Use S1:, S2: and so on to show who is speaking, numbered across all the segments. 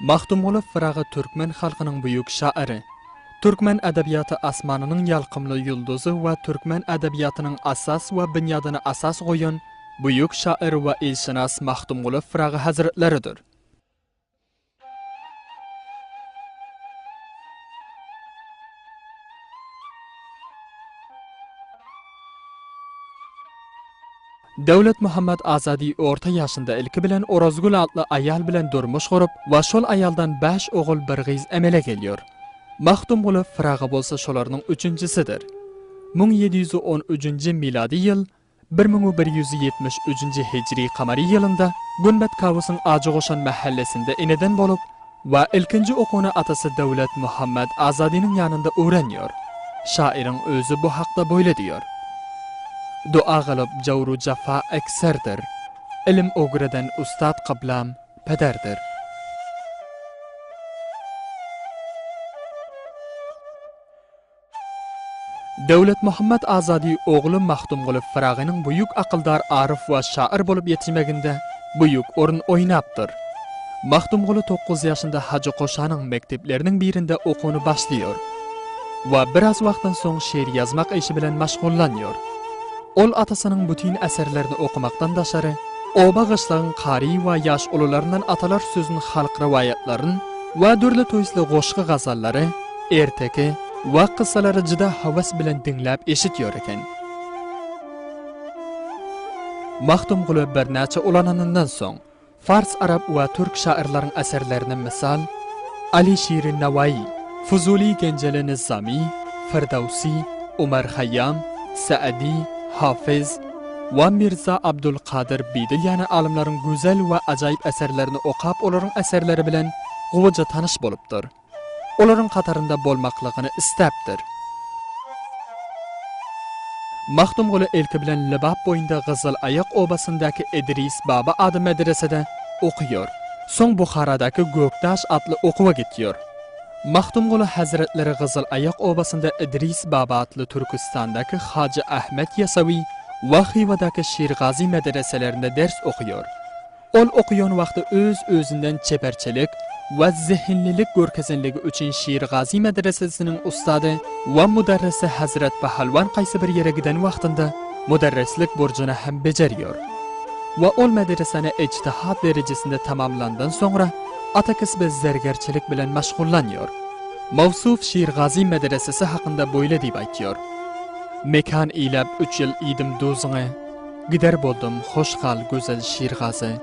S1: Magtymguly Pyragy türkmen halkynyň büyük şaýry, türkmen edebiýaty asmanynyň ýalkymly ýulduzy we türkmen edebiýatynyň asas we binýadyny asas goýan büyük şaýyr we ilşynas Magtymguly Pyragy hazretleridir. Döwletmuhammet Azady orta ýaşynda ilki bilen Orazgül atly aýal bilen durmuş gurup we şol aýaldan bäş ogul, bir gyz emele gelýär. Magtymguly Pyragy bolsa şolarynyň üçünjisidir. Müň ýedi ýüz on üçünji milady ýyl Bir müň bir ýüz ýetmiş üçünji hijri kamary ýylynda Günbat Kawusyň Ajygoşan mähellesinde eneden bolup we ilkinji okuny atasy Döwlet Muhammet Azadynyň ýanynda öwrenýär. Şaýyryň özi bu hakda boýle diýýär. Doa galyp jawru jaffa ekserdir. Ilim ogreden ussat kyblam, pederdir. Döwletmuhammet Azady ogly Magtymguly Pyragynyň büýük akyldar aryf we şaýyr bolup ýetişmeginde büýük orun oýnapdyr. Magtymguly togkuz ýaşynda Hajy Koşanyň mekdepleriniň birinde okuwny başlaýar we biraz wagtdan soň şyr ýazmak işi bilen maşgullanýar. Ol atasynyň bütin eserlerini okumakdan daşary, oba-gyşlagyň kary we ýaş ulularyndan atalar sözün halk rowaýatlaryn we dürli toýsly goşgy-gazallary, Erteki wagt kyssalary juda hawas bilen diňläp eşit ýör eken. Magtymguly birnäçe ulananyndan soň, fars, arap we türk şahyrlaryň eserlerine mysal, Aly Şiri Nawaýy, Fuzuly Genjeli Nyzamy, Firdawsy, Omar Haýýam, Saadi, Hafyz, we Mirza Abdul Kadyr Bidil ýaly alymlaryň gözel we ajaýyp eserlerini okap olaryň eserleri bilen gowyja tanyş bolupdyr. Olaryň hatarynda bolmaklygyny isläpdir. Magtymguly ilki bilen Lebap boýunda Gyzyl aýak obasyndaky Idris baba ady medresede okaýar. Soň Buharadaky Gökdaş atly okuwa gitýär. Magtymguly hazretleri Gyzyl aýak obasynda Idris baba atly Türküstandaky Hajy Ahmet Ýasawy we Hywadaky Şirgazy medreselerinde ders okaýar. Ol okaýan wagty öz-özünden çeperçilik we zehinlilik görkezenligi üçin Şirgazy medresesiniň ussady we mudarrisy Hazrat Pahalwan haýsy bir ýere giden wagtynda mudarrislik burjuny hem bejerýär we ol medresany ijtihad derejesinde tamamlandan soňra ata kesbi zergerçilik bilen maşgullanýar. Mawsuf Şirgazy medresesi hakynda boýle diýip aýtýar, Mekan iýläp üç ýyl iýdim duzuňy. Gider boldum, hoş gal, gözel şirgazy.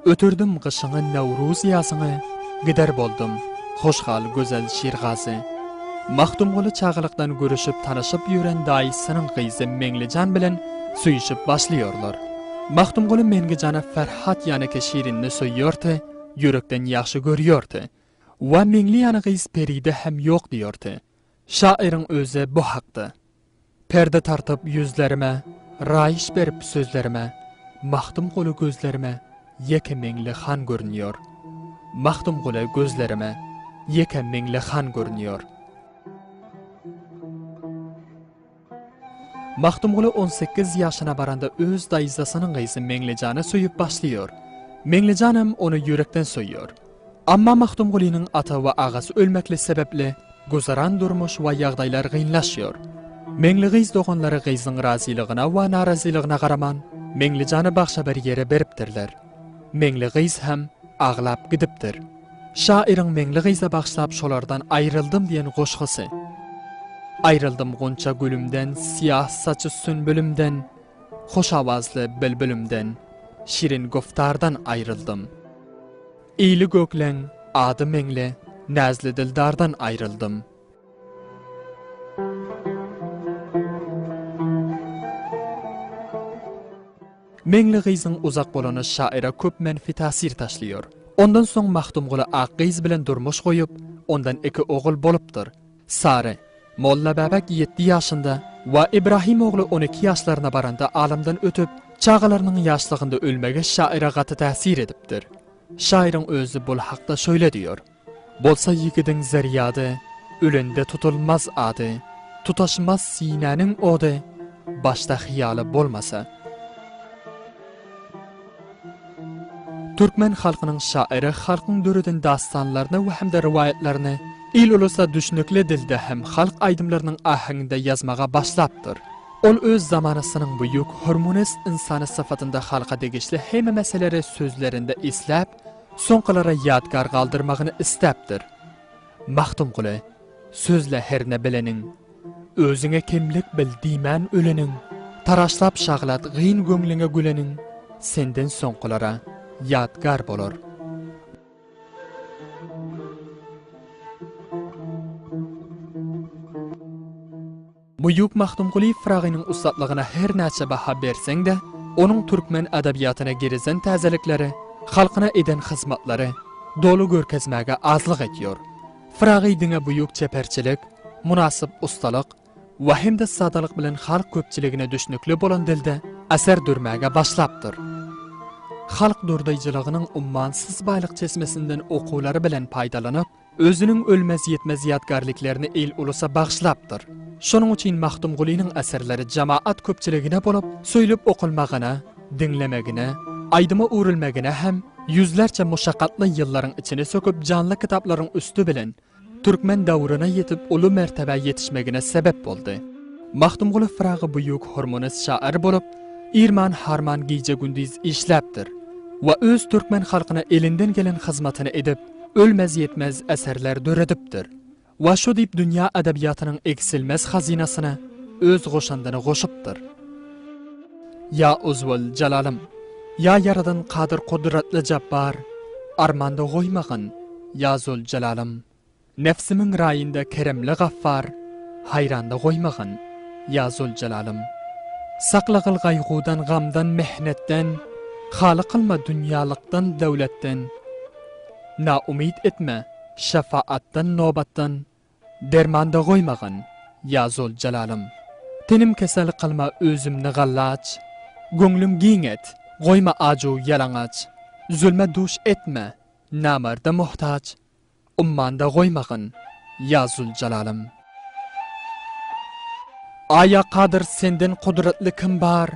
S1: Ötürdim gyşyňy, Nowruz ýazyňy, Gider boldum, hoş gal, gözel şirgazy. Magtymguly çagalykdan görüşip, tanyşyp ýören daýysynyň gyzy Meňlijan bilen söýüşip başlaýarlar. Magtymguly Meňlijana Ferhat ýaneke Şirinini söýýärti, ýürekden ýagşy görýärti. Wa Meňli ýany gyz Peride hem ýok diýerti. Şaýyryň özi bu hakda. Perde tartyp ýüzlerime, Raýyş berip sözlerime, Magtymguly gözlerime Ýeke meňli han görünýär. Magtymguly gözlerime Ýeke meňli han görünýär. Magtymguly on sekiz ýaşyna baranda öz daýzasynyň gyzy Meňlijany söýüp başlaýar. Meňlijan hem ony ýürekden söýýär. Amma Magtymgulynyň ata we agasy ölmekli sebäpli güzeran durmuş we ýagdaýlar gynlaşýar. Meňli gyz doganlary gyzyň razylygyna we narazylygyna garaman, Meňlijany bagşa bir ýere beripdirler. Meňli gyz hem aglap gidipdir. Şaýyryň Meňli gyza bagşlap şolardan aýryldym diýen goşgysy. Aýryldym gunça gülümden, syýah saçy sünbülimden. Hoş awazly bilbilimden, şirin güftardan aýryldym. Ýyly gökleň, ady meňli, näzli dildardan aýryldym. Meňli gyzyň uzak bolany şaýyra köp menfi täsir taşlaýar. Ondan soň Magtymguly ak gyz bilen durmuş goýup, ondan iki ogul bolupdyr. Sary, Molla Bäbek ýedi ýaşynda we Ibrahim ogly on iki ýaşlaryna baranda alamdan ötüp, çagalarynyň ýaşlygynda ölmegi şaýyra gaty täsir edipdir. Şaýyryň özi bul hakda şöýle diýýär, Bolsa ýigidiň zerýady, Ölende tutulmaz ady, Tutaşmaz sinäniň ody, Başda hyýaly bolmasa. Türkmen halkynyň şaýry halkyň döreden dastanlaryny we hem-de rowaýatlaryny il-ulusa düşnükli dilde hem halk aýdymlarynyň ahanginde ýazmaga başlapdyr. Ol öz zamanasynyň buýuk, hormunis ynsany syfatynda halka degişli heme meseleri sözlerinde isläp, soňkulara ýadgar galdyrmagyny isläpdir. Magtymguly, Sözle herne bileniň. Özüňe kemlik bil diýmän öleniň, Taraşlap şaglat gyn göňlüňe güleniň, Senden soňkulara ýadgar bolar. Buýuk Magtymguly Pyragynyň ussatlygyna her näçe baha berseň-de, onuň türkmen edebiýatyna girizen täzelikleri, halkyna eden hyzmatlary doly görkezmäge azlyk edýär. Pyragy diňe buýuk çeperçilik, mynasyp ussalyk we hem-de sadalyk bilen halk köpçüligine düşnükli bolan dilde eser dörmäge başlapdyr. Halk durdaýjylygynyň ummansyz baýlyk çeşmesinden okuwlary bilen paýdalanyp, özüniň ölmez-ýitmez ýadgarlyklerini il-ulusa bagyşlapdyr. Şonuň üçin Magtymgulynyň eserleri jamaat köpçüligine bolup söýlüp okalmagyna, Diňlemegine, aýdyma öwrülmegine hem ýüzlerçe muşakgatly ýyllaryň içini söküp janly kitaplaryň üsti bilen türkmen döwrüne ýetip uly mertebä ýetişmegine sebep boldy. Magtymguly Pyragy büýük hormonist şaýyr bolup, irman harman gije-gündiz işläpdir we öz türkmen halkyna elinden gelen hyzmatyny edip, ölmez-ýetmez eserler döredipdir. we şu diýip dünýä edebiýatynyň egsilmez hazynasyna öz goşandyny goşupdyr. Ýa Uzwal Jalalym, ýa Ýaradan Kadyr Kudratly Jabbar, armanda goýmagyn, ýa Züljalalym, Nebsimiň raýynda Keremli Gaffar, haýranda goýmagyn, ýa Züljalalym, Sakla gyl gaýgudan, gamdan, mehnetden, haly kylma dünýälykdan, döwletden, naumyt etme, Şefaatdan nobatdan dermanda goýmagyn ýa zol jalalym Tenim kesel kylma özümni gallaç Göňlüm giň et goýma ajuw ýalaňaç Zulma duş etme namarda muhtaç Ummanda goýmagyn ýa zul jalalym. Aý ýa kadyr senden kudratly kim bar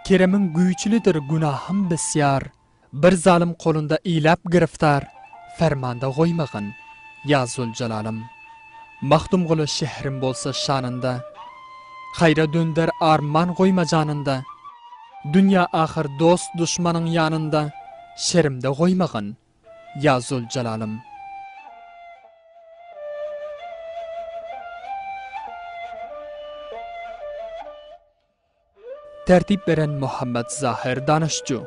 S1: Keremiň güýçlidir günahym besýar Bir zalym kolunda iläp giriftar, Fermanda goýmagyn, ýa Züljelalym. Magtymguly şährim bolsa şanynda, Haýra dönder arman goýma janynda, Dünýä ahyr dost-duşmanyň ýanynda, Şerimde goýmagyn, ýa Züljelalym. Tertip beren Muhammet Zahir Danışcu.